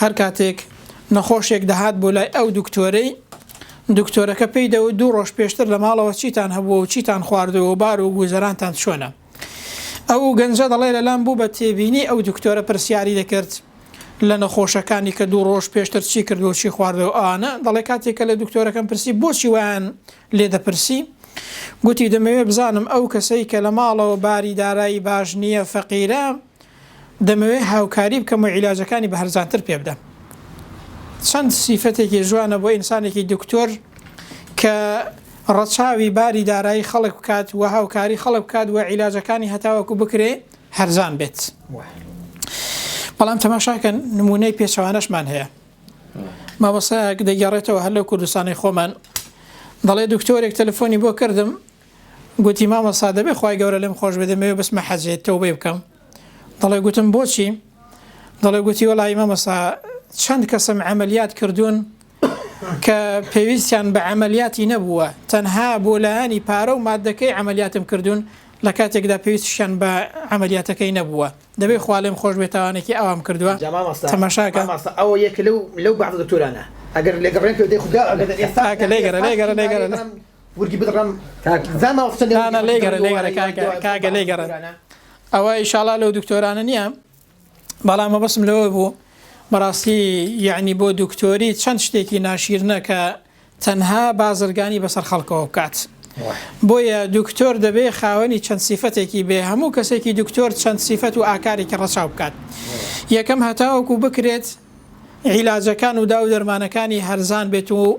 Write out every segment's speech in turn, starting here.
هەر کاتێک نەخۆشێک دەهات بۆ لای ئەو دوکتۆرەی، دوکتۆرەکە پێی دەوت دوو ڕۆژ پێشتر لە ماڵەوە چیتان هەبووە و چیتان خواردووە و بار و گوزەرانتان چۆنە؟ ئەو گەنجە دەڵێ لەلام بوو بە تێبینی ئەو دوکتۆرە پرسیاری دەکرد لە نەخۆشەکانی کە دوو ڕۆژ پێشتر چی کردووە و چی خواردووە و ئەوانە، دەڵێ کاتێک کە لە دوکتۆرەکەم پرسی بۆچی وایان لێ دەپرسی؟ گوتی دەمەوێ بزانم ئەو کەسەی کە لە ماڵەوە باری دارایی باش نییە فەقیرە دەمەوێ هاوکاری بکەم و عیلاجەکانی بە هەرزانتر پێ بدەم. چەند سیفەتێکی جوانە بۆ ئینسانێکی دکتۆر کە ڕەچاوی باری دارایی خەڵک بکات و هاوکاری خەڵک بکات و عیلاجەکانی هەتاوەکو بکرێ هەرزان بێت. بەڵام تەماشاکەن نمونەی پێچەوانەشمان هەیە. مامۆستایەک دەگەڕێتەوە هەر لەو کوردستانی خۆمان دەڵێ دکتۆرێک تەلەفۆنی بۆ کردم گوتی مامۆستا دەبێ خوای گەورە لێم خۆش بێ دەمەوێ بچمە حەجێ تەوبەی بکەم دەڵێ گوتم بۆچی دەڵێ گوتی وەڵایی مامۆستا چەند کەسم عملیات کردوون کە پێویستیان بە عملیاتی نەبووە تەنها بۆ لایەنی پارە و مادەکەی عملیاتم کردوون لە کاتێکدا پێویستشیان بە عملیاتەکەی نەبووە دەبێ خوا لێم خۆش بێ تاوانێکی ئەوام کردووە جا مامۆستا تەماشاکە مامۆستا ئەوە یەکە لەو لەو بەعزە دکتۆرانە ئەگەر لێگەڕێم پێ دەی خودا ئەگەر ئێستا ئاکە لێگەرە لێگەرە لێگەرە ورگی بدڕم کاگە لێ گەڕێ ئەوە ئیشاڵا لەو دکتۆرانە نییە بەڵام مەبەسم لەوە بوو بەڕاستی یعنی بۆ دکتۆری چەند شتێکی ناشیرنە کە تەنها بازرگانی بەسەر خەڵکەوە بکات. بۆیە دکتۆر دەبێ خاوەنی چەند سیفەتێکی بێ هەموو کەسێکی دکتۆر چەند سیفەت و ئاکارێکی ڕەچاو بکات. یەکەم هەتاوەکو بکرێت عیلاجەکان و دا و دەرمانەکانی هەرزان بێت و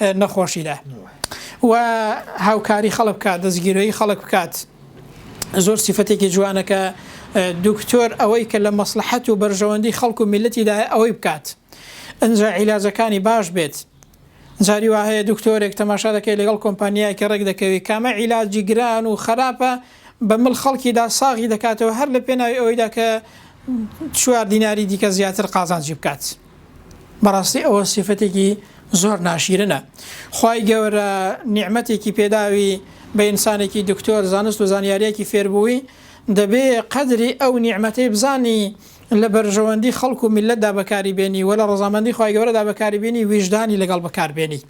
نەخۆشیدا و هاوکاری خەڵک بکات دەستگیرۆی خەڵک بکات زۆر سیفەتێکی جوانە کە دکتۆر ئەوەی کە لە مەسلحەت و بەرژەوەندی خەڵک و میلەتیدا ئەوەی بکات ئەجا عیلاجەکانی باش بێت جاری وا هەیە دکتۆرێک تەماشا دەکەی لەگەڵ کۆمپانیایەکی ڕێک دەکەوی کامە عیلاجی گران و خراپە بە مل خەڵکیدا ساغی دەکاتەوە هەر لە پێناوی ئەوەیدا کە چوار دیناری دیکە زیاتر قازانجی بکات. بەڕاستی ئەوە سیفەتێکی زۆر ناشیرنە خوای گەورە نیعمەتێکی پێداوی بە ئینسانێکی دکتۆر زانست و زانیاریەکی فێربووی دەبێ قەدری ئەو نیعمەتەی بزانی لە بەرژەوەندی خەڵک و میللەتدا بەکاری بێنی و لە ڕەزامەندی خوای گەورەدا بەکاری بێنی ویژدانی لەگەڵ بەکار بێنی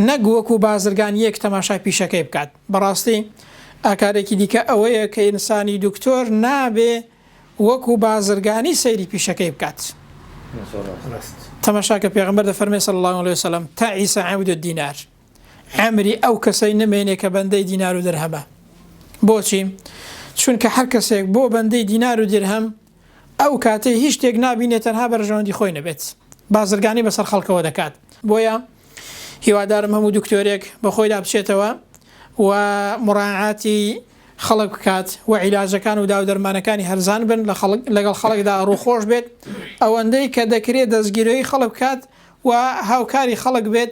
نەک وەکو بازرگان یەک تەماشای پیشەکەی بکات بەڕاستی ئاکارێکی دیکە ئەوەیە کە ئینسانی دکتۆر نابێ وەکو بازرگانی سەیری پیشەکەی بکات تەماشاکە پێغەمبەر دەفەرمێ صلی اللە علیە وسلم تعیس عبد الدینار عەمری ئەو کەسەی نمێنێ کە بەندەی دینار و درهەمە بۆچی چونکە هەر کەسێک بۆ بەندەی دینار و درهەم ئەو کاتەی هیچ شتێک نابینێت تەنها بەرژەوەندی خۆی نەبێت بازرگانی بەسەر خەڵکەوە دەکات بۆیە هیوادارم هەموو دکتۆرێک بە خۆیدا بچێتەوە و مڕاعاتی خەڵک بکات و عیلاجەکان و داودەرمانەکانی هەرزان بن لەگەڵ خەڵکدا ڕووخۆش بێت ئەوەندەی کە دەکرێت دەستگیرۆی خەڵک بکات و هاوکاری خەڵک بێت،